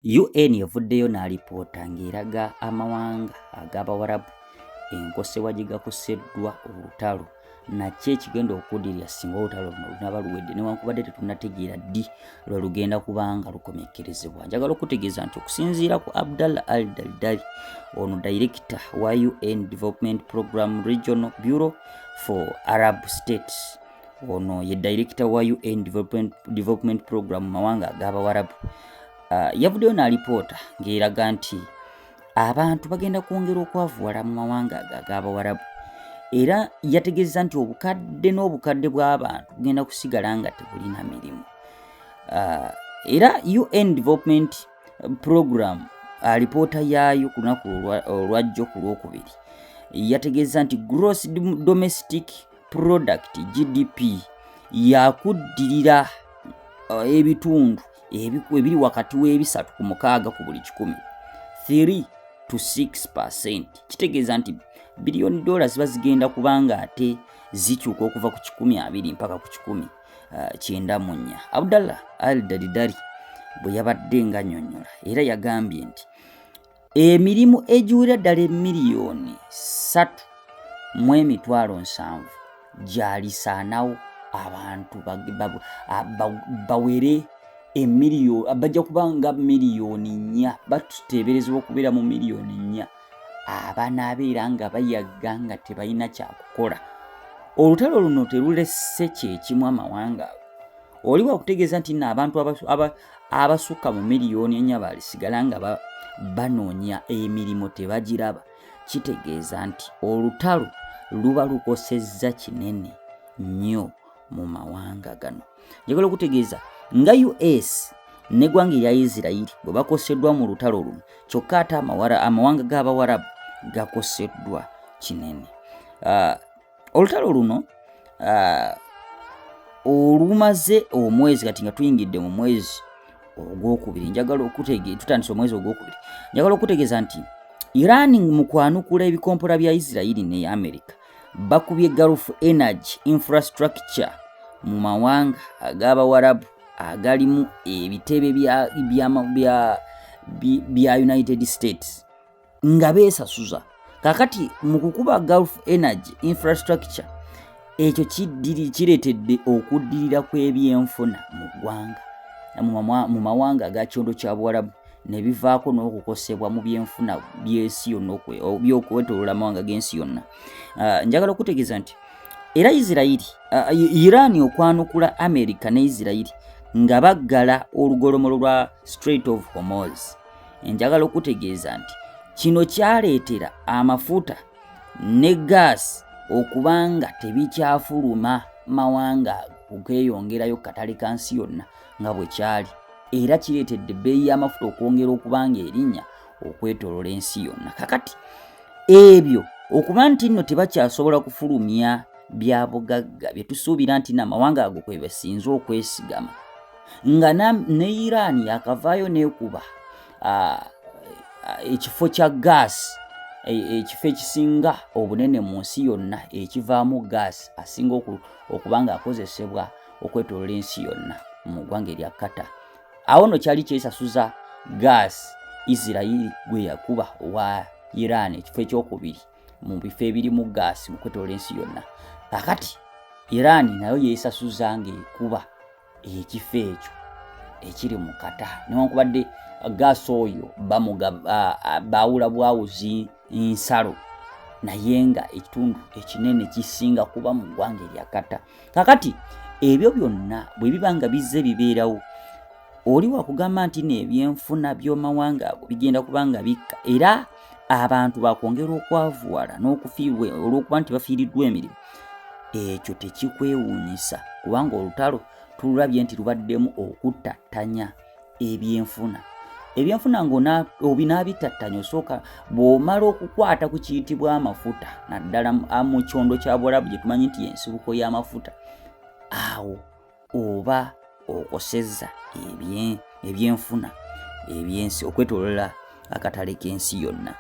UN evuddeyo n'alipoota ng'eraga amawanga ag'Abawarabu enkosewa gye gakoseddwa olutalo nakyo ekigenda okudirira singa olutalo luno lunaba luwedde newankubadde tetunategeera ddi lwe lugenda kubanga lukomekkerezebwa njagala okutegeeza nti okusinziira ku abdallah al daldali ono direkita wa un development program regional bureau for arab states ono ye dayirekita wa un development, development program mu mawanga ag'abawarabu uh, yavuddeyo n'alipoota ng'eraga nti abantu bagenda kwongera okwavuwala mu mawanga ago ag'abawarabu era yategeeza nti obukadde n'obukadde bw'abantu bugenda kusigala nga tebulina mirimu uh, era un development program alipoota uh, yaayo ku lunaku olwajjo ku lwokubiri yategeeza nti gross domestic product gdp yakuddirira uh, ebitundu ebiri wakati w'ebisatu ku mukaaga ku buli kikumi 3 to 6 percent kitegeeza nti biliyoni dola ziba zigenda kubanga ate zikyuka okuva ku kikumi abiri mpaka ku kikumi uh, kyenda mu nnya abdallah al dalidari bwe yabadde nganyonyola era yagambye nti emirimu egiwera ddala emiliyoni ssatu mu emitwalo nsanvu gyalisaanawo abantu bawere emiliyo bajja kuba nga miliyoni nnya batuteeberezebwa okubeera mu miliyoni nnya abanaabeera nga bayagga nga tebalina kyakukola olutalo luno terulese kyekimu amawanga ago oli wakutegeeza nti no abantu abasukka mu miliyoni enya balisigala nga banoonya emirimu tebagiraba kitegeeza nti olutalo luba lukosezza kinene nnyo mu mawanga gano njagala okutegeeza nga us negwanga erya isirairi bwe bakoseddwa mu lutalo luno kyokka ate amawanga g'abawarabu gakoseddwa kinene ah, olutalo luno uh, olumaze omwezi kati nga tuyingidde mu mwezi ogwokubiri njagala okutege tutandise omwezi ogwokubiri njagala okutegeeza nti iran mu kwanukula ebikompola bya isirairi ne america bakubye gulf energy infrastructure mu mawanga ag'abawarabu agalimu ebitebe bya, bya, bya, bya united states nga beesasuza kakati mu kukuba gulf energy infrastructure ekyo kireetedde okuddirira kw'ebyenfuna mu ggwanga mu mawanga aga kyondo kya buwarabu ne bivaako n'okukosebwa mu byenfuna by'ensi yonna byokwetolola amawanga g'ensi yonna ah, njagala okutegeeza nti era isirairi ah, iran okwanukula amerika ne isirairi nga baggala olugolomolo lwa straight of homos enjagala okutegeeza nti kino kyaleetera amafuta ne gaasi okuba nga tebikyafuluma mawanga okeyongerayo katale ka nsi yonna nga bwe kyali era kireetedde ebbeeyi y'amafuta okwongera okuba nga erinnya okwetolola ensi yonna kakati ebyo okuba nti nno tebakyasobola kufulumya bya bugagga bye tusuubira nti namawanga ago kwe basinze okwesigama nga ne iran yakavaayo nekuba ekifo kya gaasi e, ekifo ekisinga obunene mu nsi yonna ekivaamu gaasi asinga okuba nga akozesebwa okwetolola ensi yonna mu ggwanga erya kata awo no kyali kyesasuza gaasi isirairi gwe yakuba owa iran ekifo ekyokubiri mu bifo ebirimu gaasi mu kwetolola ensi yonna kakati iran nayo yesasuza ngaekuba ekifo ekyo ekiri mu kata newankubadde gaasi oyo baawula bwawuzi nsalo naye nga ekitundu ekinene kisinga kuba mu ggwanga erya kata kakati ebyo byonna bwe biba nga bizze bibeerawo oli wakugamba nti nebyenfuna byomawanga ago bigenda kubanga bikka era abantu bakwongera okwavuwala n'okufiirwa olw'okuba nti bafiiriddwa emirimu ekyo tekikwewuunyisa kubanga olutalo tululabye nti lubaddemu okuttattanya ebyenfuna ebyenfuna ngaobinaabittattanya osooka bw'omala okukwata ku kiyitibwa amafuta naddala mu kyondo kya bwarabu gye tumanyi nti yensibuko y'amafuta awo oba okosezza ebyenfuna ebyensi okwetolola akatale k'ensi yonna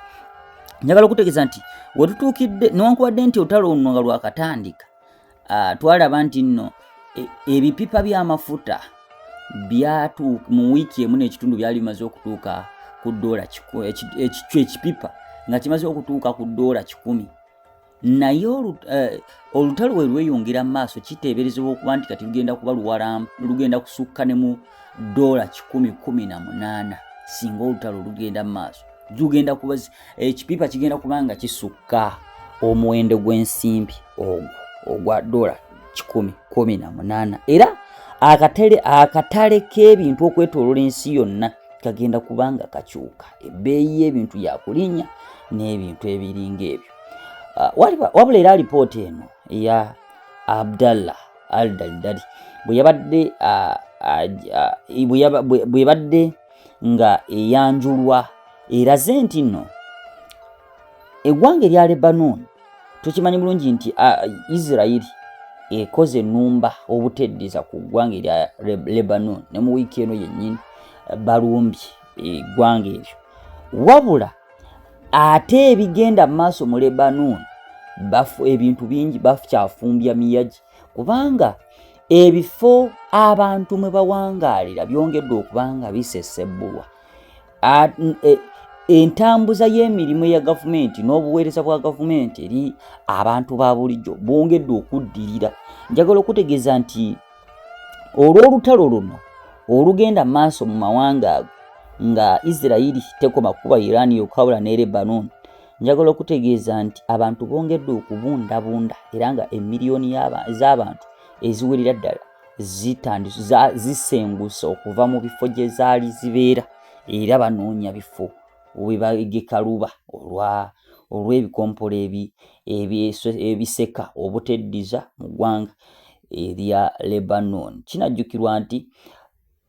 njagala okutegeeza nti wetutuukidde newankubadde nti olutalo luno nga lwakatandika ah, twalaba nti nno e, ebipipa by'amafuta byatuuka mu wiiki emu n'ekitundu byali bimaze okutuuka ku doola ekikyo ekipipa nga kimaze okutuuka ku doola kikumi naye eh, olutalo we lweyongera mu maaso kiteeberezebwa okuba nti kati lugenda kuba luwala lugenda kusukka ne mu doola kikumi kumi na munaana singa olutalo lugenda mu maaso lugenda kuba ekipiipa eh, kigenda kuba nga kisukka omuwendo gw'ensimbi ogwo ogwa doola kikumi kumi na munaana era akatale akatale k'ebintu okwetolola ensi yonna kagenda kuba nga kakyuka ebbeeyi y'ebintu yakulinnya n'ebintu ebiringa ebyo Ah, wabula era alipoota eno eya abdallah al dalidali bweyabadde ah, ah, bwebadde nga eyanjulwa eraze nti nno eggwanga erya lebanon tukimanyi bulungi nti isirairi ekoze enumba obuteddeza ku ggwanga erya lebanon ne mu wiiki eno yennyini balumbye eggwanga eryo wabula ate ebigenda mu maaso mu lebanon bafu ebintu bingi bakyafumbya miyagi kubanga ebifo abantu mwe bawangaalira byongedde okuba nga bisesebbulwa e, entambuza y'emirimu eya gavumenti n'obuweereza bwa gavumenti eri abantu ba bulijjo bwongedde okuddirira njagala okutegeeza nti olw'olutalo luno olugenda maaso mu mawanga ago nga isirairi tekoma kuba iran yokawula ne lebanon njagala okutegeeza nti abantu bongedde okubundabunda era nga emiliyoni z'abantu eziwerera ddala zisenguse okuva mu bifo gye zaali zibeera era banoonya bifo webagekaluba olwa olw'ebikompola ebiseka obuteddiza mu ggwanga erya Lebanon. Kinajjukirwa nti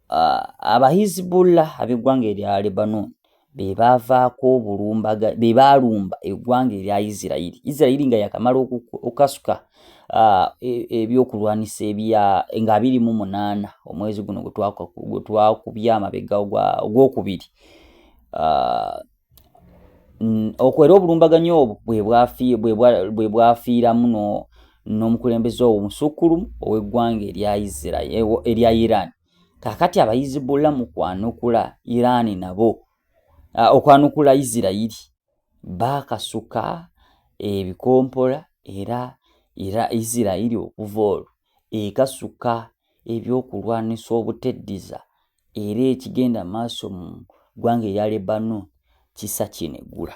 uh, abahizibullah ab'eggwanga erya Lebanon be baavaako obulumbaga be baalumba eggwanga erya Isirairi. Isirairi nga yakamala okukasuka uh, e, ebyokulwanyisa ebya nga abiri mu munaana omwezi guno gwe twakubya amabega ogwokubiri uh, mm, okwo era obulumbaganyi obwo bwe bwafiiramu n'omukulembeze owo musukkulumu ow'eggwanga erya iran kakati abayizibula mu kwanukula iran nabo ah, okwanukula isirayiri baakasuka ebikompola era era isirayiri okuva olwo ekasuka ebyokulwanisa obuteddiza era ekigenda maaso mu ggwanga erya Lebanon kisa kyeneggula.